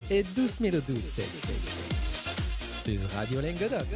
E 2012 sus Radio Lenguedoc.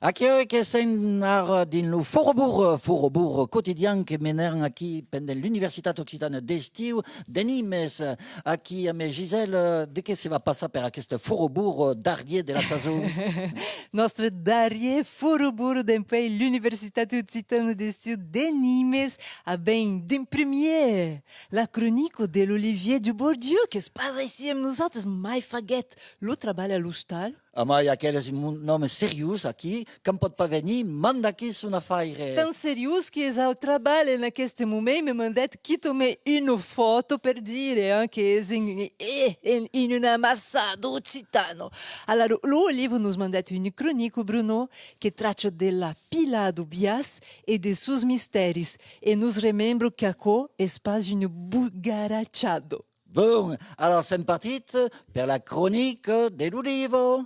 Aquò que sèn ara dins lo Forobour, Forobour quotidian que menèran aquí pendent l'Universitat Occitana d'Estiu, d'Enimes, Aquí amé Gisèle, de qué se va passar per aqueste forobur darrier de la sason? Nòstre darrier forobur dempuèi l'Universitat Occitana d'Estiu de Nimes a ben d'en premier la cronica de l'Olivier Dubourdieu qu'es pas aicí amb nosautres mai faguèt lo trabalh a l'ostal. Amai aquel es un òme seriós aquí quand pòt pas venir manda que son afaire. Tan seriós que es au trabalh en aqueste moment me mandèt quitome una fòto per dire hein que es en en en una amassada occitano. Ala lo lo Olivo nos mandèt un cronico Bruno que tracha de la pila do biais e de sos mistèris e nos remembro qu'aquò es pas un bugarachado. Bon, alors sèm partit per la cronica de lo Divo!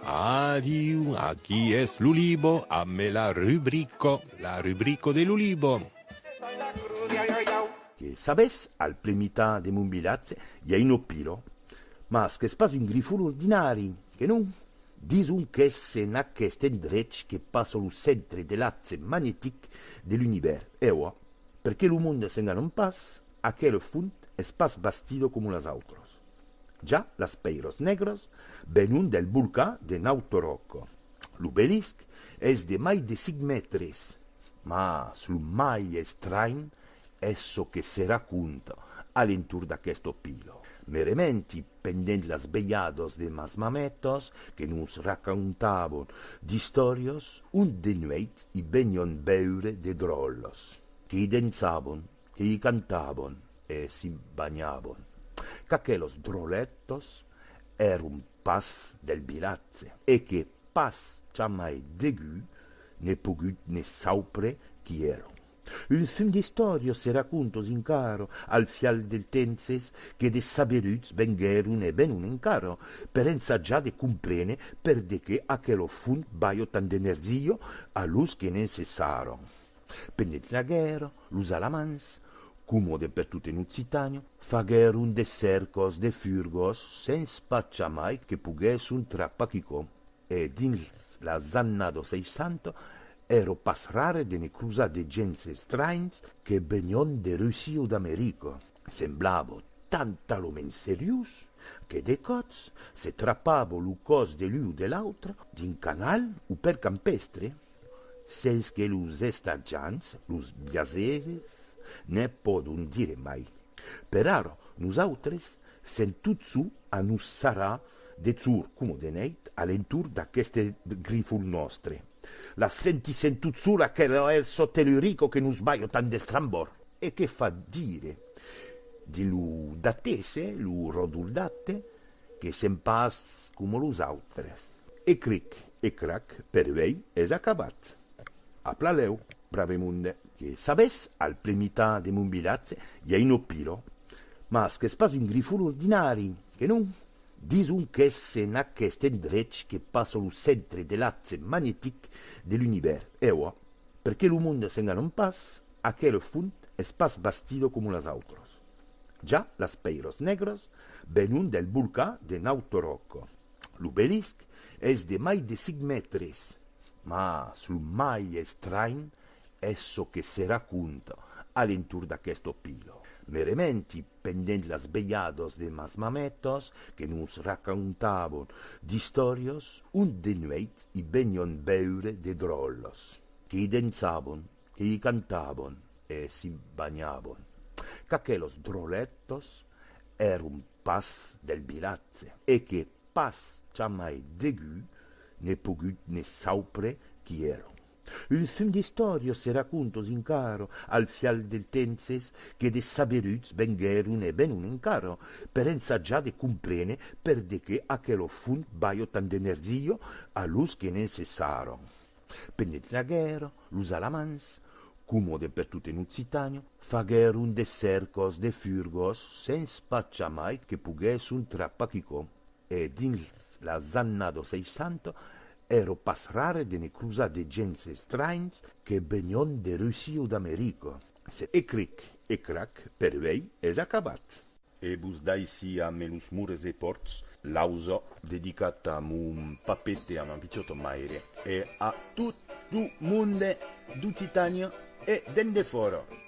Adiu, aquí es lo Libo amb la rubrico, la rubrico de lo Libo. Que sabes, al plen mitan de mon vilatge i a un opilo, mas qu'es pas un grifon ordinari, que non? Dison qu'es en aqueste endrech que passa lo centre de l'axe magnetic de l'univèrs, ewa. Per que lo monde s'enganon pas, aquel font es pas bastido como las autras. Ja las pèiras negras venon del bolcà de Nautoròc. L'obelisc es de mai de 5 mètres, mas lo mai estranh es çò que se raconta a l'entorn d'aquesta pila. Me rementi Pendent las velhadas de mas mametas, que nos racontavan d'istòrias, ont de nuèit i venion veure de dròlles, que i dençavan, que i cantavan e s'i banhavan, qu'aquelos dròletos èron pas del vilatge e que pas jamai degut n'è pogut ne saupre qui èron. Un fum d'istòrios se racòntos encara al fial del tempses que de saberuts venguèron e venon encara per ensajar de comprene per de qué aquelo fum balhò tant d'energia a los que ne'n cessàron pendent la guèrra, los Alamans, coma depertot en Occitània, faguèron de cèrcos de furgos sens pas jamai que poguèsson trapar quicòm. E dins las annas dos 60 èro pas rare de me crosar de gents estranhs que venion de Russia o d'America. Semblavo tan taloments seriós que de còps se trapavo lo còs de l'un o de l'autre dins canal o pel campèstre, sens que los estatjants, los biaseses, ne pòdon dire mai. Per ara, nosautres sèm tot çò a nos sarrar Dethsur coma de nèit a l'entorn d'aqueste grifol nòstre. La sentissèm tot sol aquel hèl çò tellurico que nos balha tant d'estrambor e que fa dire de lo Datese, lo ròdol Date, que sèm pas coma los autres. E cric e crac, per uèi es acabat. A pla lèu, brave monde. Que sabes, al plen mitan de mon vilatge i a un opilò, mas qu'es pas un grifol ordinari. Que non? Dison qu'es en aqueste endrech que passa lo centre de l'axe magnetic de l'Univèrs. E ua, per que lo monde s'enganon pas, aquel font es pas bastido coma las autras. Ja las pèiras negras venon del bolcà de Nautoròc. L'obelisc es de mai de cinc mètres. Mas lo mai estranh es çò que se raconta a l'entorn d'aquesta pila. Me rementi pendent las velhadas de mas mametas que nos racontavan d'istòrias ont de nuèit i venián veure de dròlles que i dençavan, que i cantavan e s'i banhavan, qu'aquelas dròlletas èran pas del vilatge e que pas jamai degun n'ai pogut ne saupre qui èran. Un fum d'istòrios e racòntos encara al fial del tempses que de saberuts venguèron e venon encara per ensajar de comprene per de qué aquelo fum balhò tant d'energia a los que ne'n cessàron pendent la guèrra, los Alamans, coma de pertot en Occitània, faguèron de cèrcos de furgos sens pas jamai que poguèsson trapar quicòm. E dins las annas dos 60, èro pas rare de ne crosar de gents estranhs que venion de Russia o d'America. Se e cric e crac, per uèi es acabat. E vos daissi a me los mures e pòrts, l'ausa dedicat a mon papet e a ma pichòta maire e a tot lo monde d'Occitània e d'endefòra.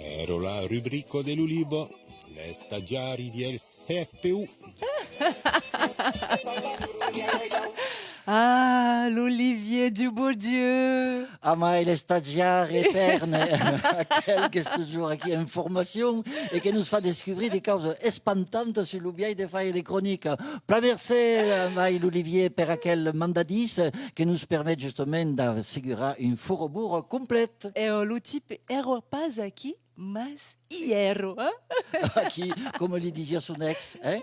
Ero la rubrico de l'Ulibo, l'estagiari diel CFPU. Ah, l'Olivier du beau Dieu! Ah, mai l'estagiari eterne, aquel qu'es toujours aquí en formacion e que nos fa descubrir de causas espantantas sur lo biais de faire de cronica. Plan mercé, mai l'Olivier, per aquel mandadís que nos permet justement d'assegurar un foroburo complet. Eo lo tipe ero pas aquí, mas i ero, hein? Aquí, coma li disiá son ex, hein?